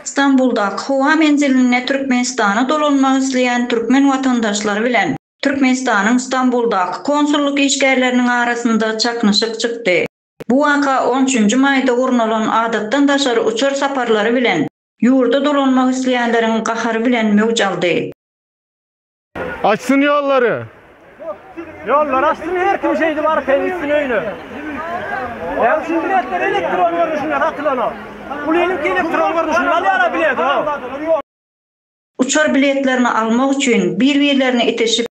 Stambuldaky howa menzilinde Türkmenistana dolanmak isleýän türkmen watandaşlary bilen Türkmenistanyň Stambuldaky konsullyk işgärleriniň arasynda çaknyşyk çykdy. Bu waka on üçünji maýda gurnalan adatdan daşary uçar saparlary bilen ýurda dolanmak isleýänleriň gahary bilen möwç aldy. Açsyn ýollary. Ýollary açsyn her kim şeýdip arkaýyn gitsin öýüne. Ýa şu biletler elektron görnüşinde satylanok. Pulynyňky elektron görnüşinde alýarlar bileti. Uçar biletlerini almak üçin bir-birlerine itişip,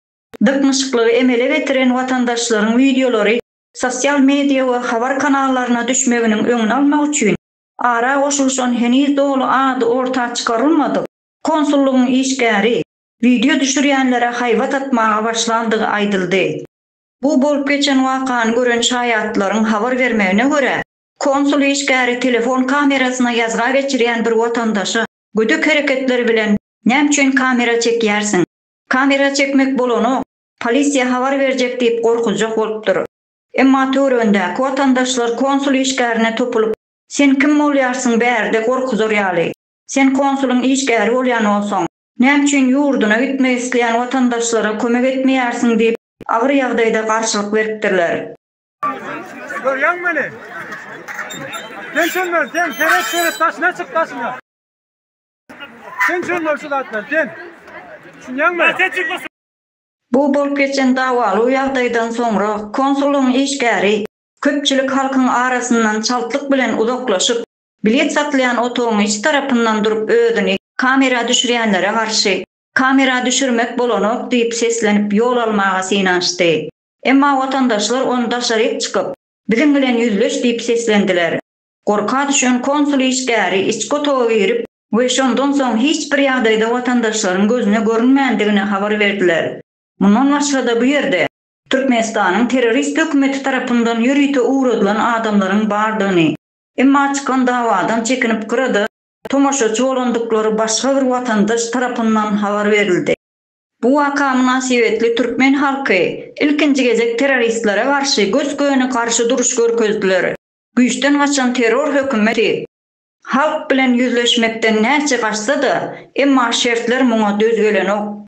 dyknyşyklygy emele getiren watandaşlaryň wideolary sosial media we habar kanallaryna düşmeginiň öňüni almak üçin ara goşulyşan heniz doly ady orta çykarylmadyk konsullygyň işgäri Wideo düşürýänlere haýbat atmaga başlandygy aýdyldy. Bu bolup geçen wakany gören şaýatlaryň habar bermegine görä, konsul işgäri telefon kamerasyna ýazga geçirýän bir watandaşa gödek hereketler bilen Näme üçin kamera çekýärsiň? Kamera çekmek bolanok, polisiýa habar berjek diýip gorkuzjak bolupdyr. Emma töweregindäki watandaşlar konsul işgärine topulyp Sen kim bolýarsyň bärde gorkuzar ýaly? Sen konsulyň işgäri bolýan bolsaň, Näme üçin ýurduna gitmek isleýän watandaşlara kömek etmeýärsiň diýip, agyr ýagdaýda garşylyk beripdirler. Görýäňmi meni? Sen şundan, sen seret, seret, daşyna çyk, daşyna! Sen şundan, şu zatdan, sen! Düşünýäňmi? Bu bolup geçen dawaly ýagdaýdan soňra konsullygyň işgäri köpçülik halkyň arasyndan çaltlyk bilen uzaklaşyp, Bilet satylýan otagyň iç tarapyndan durup özüni kamera düşürýänlere garşy Kamera düşürmek bolanok diýip seslenip ýol almaga synanyşdy. Emma watandaşlar ony daşaryk çykyp, Biziň bilen ýüzleş diýip seslendiler. Gorka düşen konsul işgäri içki otaga girip we şondan soň hiç bir ýagdaýda watandaşlaryň gözüne görünmändigini habar berdiler. Mundan başga-da bu ýerde Türkmenistanyň terrorist hökümeti tarapyndan ýörite ugradylan adamlaryň bardygyny Emma çykan dawadan çekinip gyrada tomaşaçy bolandyklary başga bir watandaş tarapyndan habar berildi. Bu waka mynasybetli türkmen halky ilkinji gezek terroristlere garşy gös-göni garşy duruş görkezdiler. Güýçden gaçan terror hökümeti halk bilen ýüzleşmekden näçe gaçsa-da, emma şertler muňa döz gelenok.